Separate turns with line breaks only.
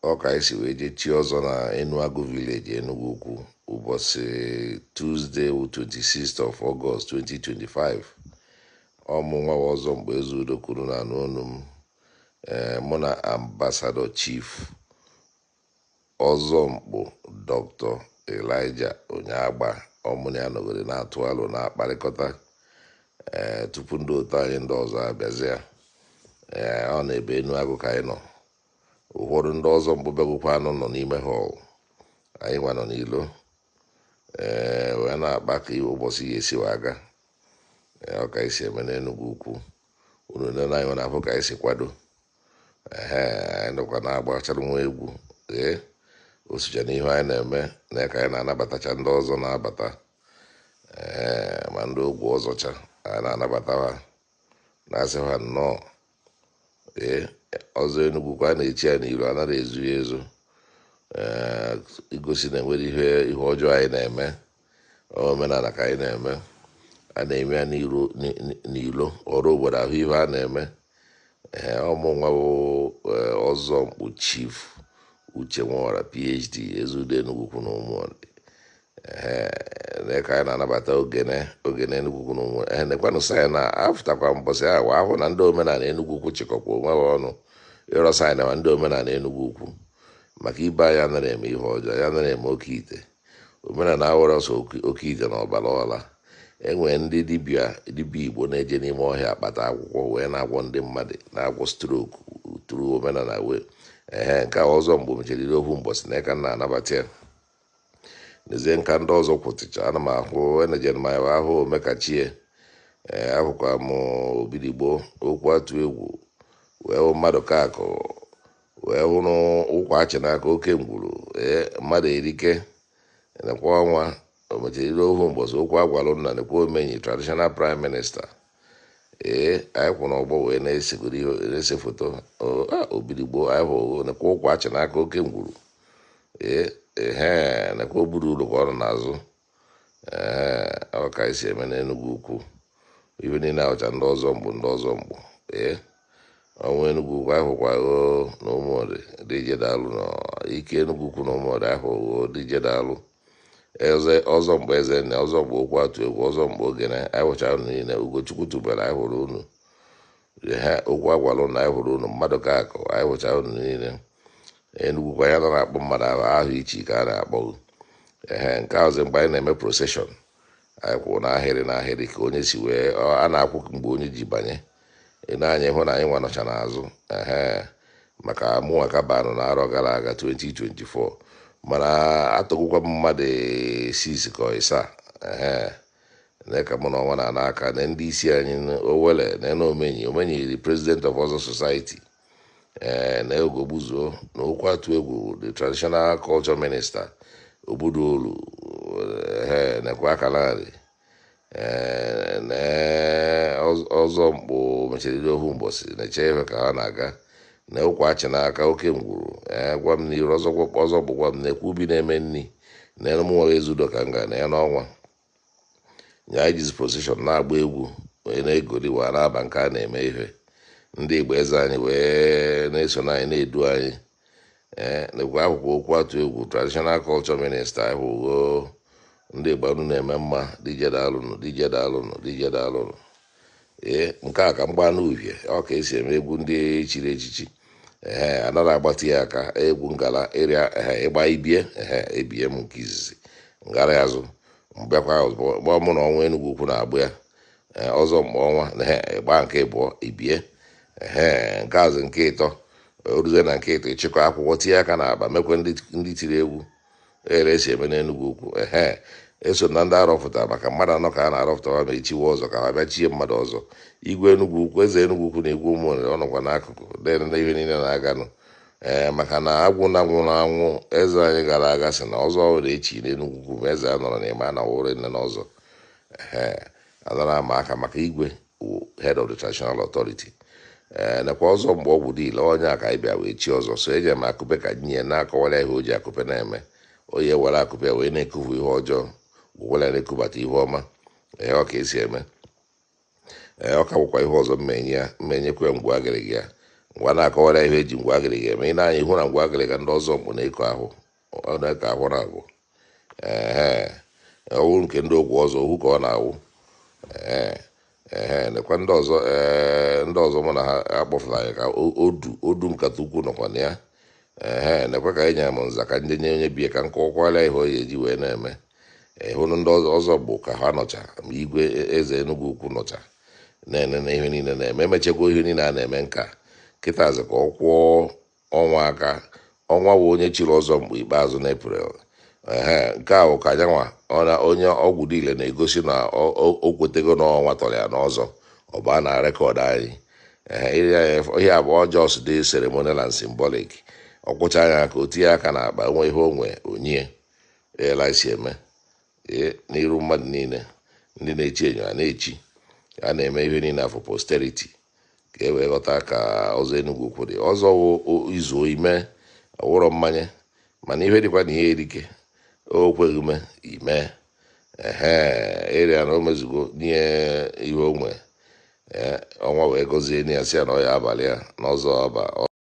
Ọ ka anyị si wee jee chie ọzọ na Enuagu Village, Enugwu Ukwu ụbọchị Tuesday wụ 26th of August 2025. Ọ mụ nwa wụ Ọzọ Mkpu Ezeudo ka unu na-anụ onu m ee mụ na Ambassador Chief Ọzọ Mkpu Dr. Elijah Onyeagba ọ mụ na ya nọgoro na-atụ alo na-akparịkọta ee tupu ndị otu anyị ndị ọzọ abịazịa ee ọ n'ebe Enuagu ka anyị nọ ụfọdụ ndị Ọzọ Mkpu bịagokwanụ nọ n'ime họl anyị nwa nọ n'ilo ee wee na-akpa ka ụbọchị ya esi wee aga ee ọ ka anyị si eme n'Enugwu ukwu unu nene anyị na-afụ ka anyị si kwado ehe anyị nọkwa na-agbachara nwa egwu ee o socha n'ihe anyị na-eme na ka anyị na-anabatacha ndị ọzọ na-abata ee ma ndị ogwu ọzọcha anyị na-anabata ha na-asị ha nnọọ ee ọzọ Enugwu Ukwu a na-echi ya n'ilo a nara ezo ya ezo ee igosi na enwere ihe ihe ọjọọ anyị na-eme omenala ka anyị na-eme a na-eme ya n'iro n- n- n'ilo ọra obodo ahụ ihe a na-eme ee ọ mụ nwa bụ ee, Ọzọ Mkpu Chief Uche Nworah PhD Ezeudo Enugwu Ukwu na ụmụ ee ka anyị na-anabata ogene ogene Enugwu Ukwu na Ụmụnri ee nekwanụ saịn a afụtakwa mbọsị a wee ahụ na ndị omenala Enugwu Ukwu chịkọkwa onwe ha ọnụ ịrọ saịn ma ndị omenala Enugwu Ukwu maka ibe anyị anara eme ihe ọjọọ anyị anara eme oke ite omenala awụrọ sọ oke- oke ite na ọbara ọla enwere ndị dibịa dibịa igbo na-eje n'ime ọhịa akpata akwụkwọ wee na-agwọ ndị mmadụ na-agwọ strok tụrụ omenala wee ehe nke a Ọzọ Mkpu mechara iri ohu mbọsị nke a ka a na-anabata ya n'ezie nka ndị ọzọ kwụtịcha ana m ahụ enejen m ahụ ahụ omekachie ee ahụkwa m Obidigbo okwu atụ egwu wee hụ mmadụ ka akụ wee hụrụ ụkwa achị n'aka oke ngwuru ee mmadụ erike nekwa ọnwa o mechara iri ohu mbọsị okwu agwalụ nna nekwa omenyi traditional prime minister ee anyị kwụ n'ọgbọ wee na-esegoro ihe na-ese foto O- a, Obidigbo anyị hụ o, nekwa ụkwa achị n'aka oke ngwuru ee ehe nekwa oburu ụlọ ka ọrụ n'azụ ee ọ ka anyị si eme n'enugwu ukwu ife niile a wụcha ndị Ọzọ Mkpu ndị Ọzọ Mkpu ee ọnwa enugwu ukwu anyị hụkwa o na Ụmụnri dije daalụ na ike enugwu ukwu na Ụmụnri ahụ o dije daalụ eze Ọzọ Mkpu eze nne Ọzọ Mkpu okwu atụ egwu Ọzọ Mkpu ogene anyị hụchara unu niile ugochukwu tubelu anyị hụrụ unu ehe okwu agwala unu anyị hụrụ unu mmadụ ka akụ anyị hụchara unu niile Enugwu Ukwu anyị anara akpọ mmadụ aha aha ichi ka a na-akpọ gị ehe nke a ọzọ mgbe anyị na-eme proseshọn anyị kwụrụ n'ahịrị n'ahịrị ka onye si wee ọ- a na-akwụ mgbe onye ji banye ị nee anya ị hụ na anyị nwa nọcha n'azụ ehe maka mụnwa ka banụ na arọ gara aga 2024 mana atọgokwa m mmadụ six ka ịsaa ehe nee ka mụ na Ọnwa na-ana aka na ndị isi anyị Owelle na na omenyi omenyi the president of Ozo society ee na ogogbuzuo na okwu atụ egwu the traditional culture minister obodo olu ehe nekwa aka narị ee na ọz- ọzọ mkpụ mechiriri ọhụ mbọsị na-eche ife ka ha na-aga na ụkwa achị n'aka oke ngwuru ee gwa m n'iru ọzọ gwakwa ọzọ mkpụ gwa m na ekwu ubi na-eme nri na elu m nwere Ezeudo ka m ga na ya n'ọnwa nya anyị jizi position na-agba egwu wee na-egoli wee na-aba nke a na-eme ihe ndị igwe eze anyị wee na-eso na anyị na-edu anyị ee eh, nekwa okwu okwu atụ egwu traditional culture minister ahụgo ndị Igbo unu na-eme mma deje daalụnụ deje daalụnụ deje daalụnụ ee eh, nke a ka m gbaa n'uvie ọ ka esi eme egwu ndị chiri echichi ee eh, anara agbatị ya aka egwu ngala ịrịa ịgba ibie ee ebie m nke izizi m gara azụ m bịakwa gbaa ọ mụ na ọnwa Enugwu ukwu na-agba ya ee ọzọ mkpụ ọnwa na he ịgba nke ịbụọ ibie ehe nke azụ nke ịtọ oruzie na nke ịtọ ịchịkọ akwụkwọ tinye aka n'akpa mekwe ndị ndị tiri egwu ere esi eme n'enugwu ukwu ehe eso m na ndị arọpụta maka mmadụ anọ ka a na-arọpụta ma ma echiwe ọzọ ka ha bịa chie mmadụ ọzọ igwe enugwu ukwu eze enugwu ukwu na igwe Ụmụnri ọ nọkwa n'akụkụ na-ene ihe niile na-aganụ ee maka na Agwuna nwụrụ anwụ eze anyị gara aga sị na ọzọ ọhụrụ echi n'enugwu ukwu ma eze anọrọ n'ime na ọ wụrọ nne na ọzọ Ee, anara ama aka maka igwe wụ head of the traditional authority ee nekwa ọzọ mkpụ Ọgwụdile onye a ka anyị bịa wee chi ọzọ so eji m akụpe ka m nye na-akọwara ihe o ji akụpe na-eme onye were akụpe wee na-ekufu ihe ọjọọ gwụkwara ya na-ekubata ihe ọma ee ọ ka esi eme ee ọ ka bụkwa ihe ọzọ m nye ya m nyekwa ya ngwụ agịrịga ya ngwa na-akọwara ihe eji ngwụ agịrịga eme ị nee anya ị hụ na ngwụ agịrịga ndị ọzọ mkpụ na-eko ahụ ọ na ka ahụ na-abụ ehe ọ wụ nke ndị okwu ọzọ ọhụ ka ọ na-awụ ee ehe nekwa ndị ọzọ ee ndị ọzọ mụ na ha akpọfụla anyị ka o- odu odu nkata ukwu nọkwa na ya ehe nekwa ka anyị nyere m nza ka ndị nye onye bie ka m kọwakwara ihe ọ ga-eji wee na-eme ị hụrụ ndị ọzọ ọzọ mkpụ ka ha nọcha ma igwe e- eze enugwu ukwu nọcha na-enene ihe niile na-eme emechekwa ihe niile a na-eme nka kịtazi ka ọ kwụọ ọnwa aka ọnwa wụ onye chiri ọzọ mkpụ ikpeazụ n'April ehe nke a wụ ka nyanwa onye Ọgwụdile na-egosi na o kwetego na ọnwa tọrọ ya n'ọzọ ọ baa na record anyị ihe a bụ just the ceremonial and symbolic ọ kwụchaa ya aka o tinye aka n'akpa o nwee ihe o nwe o nye ya ele esi eme n'iru mmadụ niile ndị na-echi ihe a na-echi a na-eme ihe niile for posterity ka e wee ghọta ka ọzọ Enugwu-Ukwu dị ọzọ izuo ime ọ wụrọ mmanya mana ihe dịkwa na ihe erike o kweghị ume ime ehe ịrịa na o mezugo nye ihe onwe ọnwa wee gọzie ya si ya na ọ ya abalị ya n'ọzọ ọba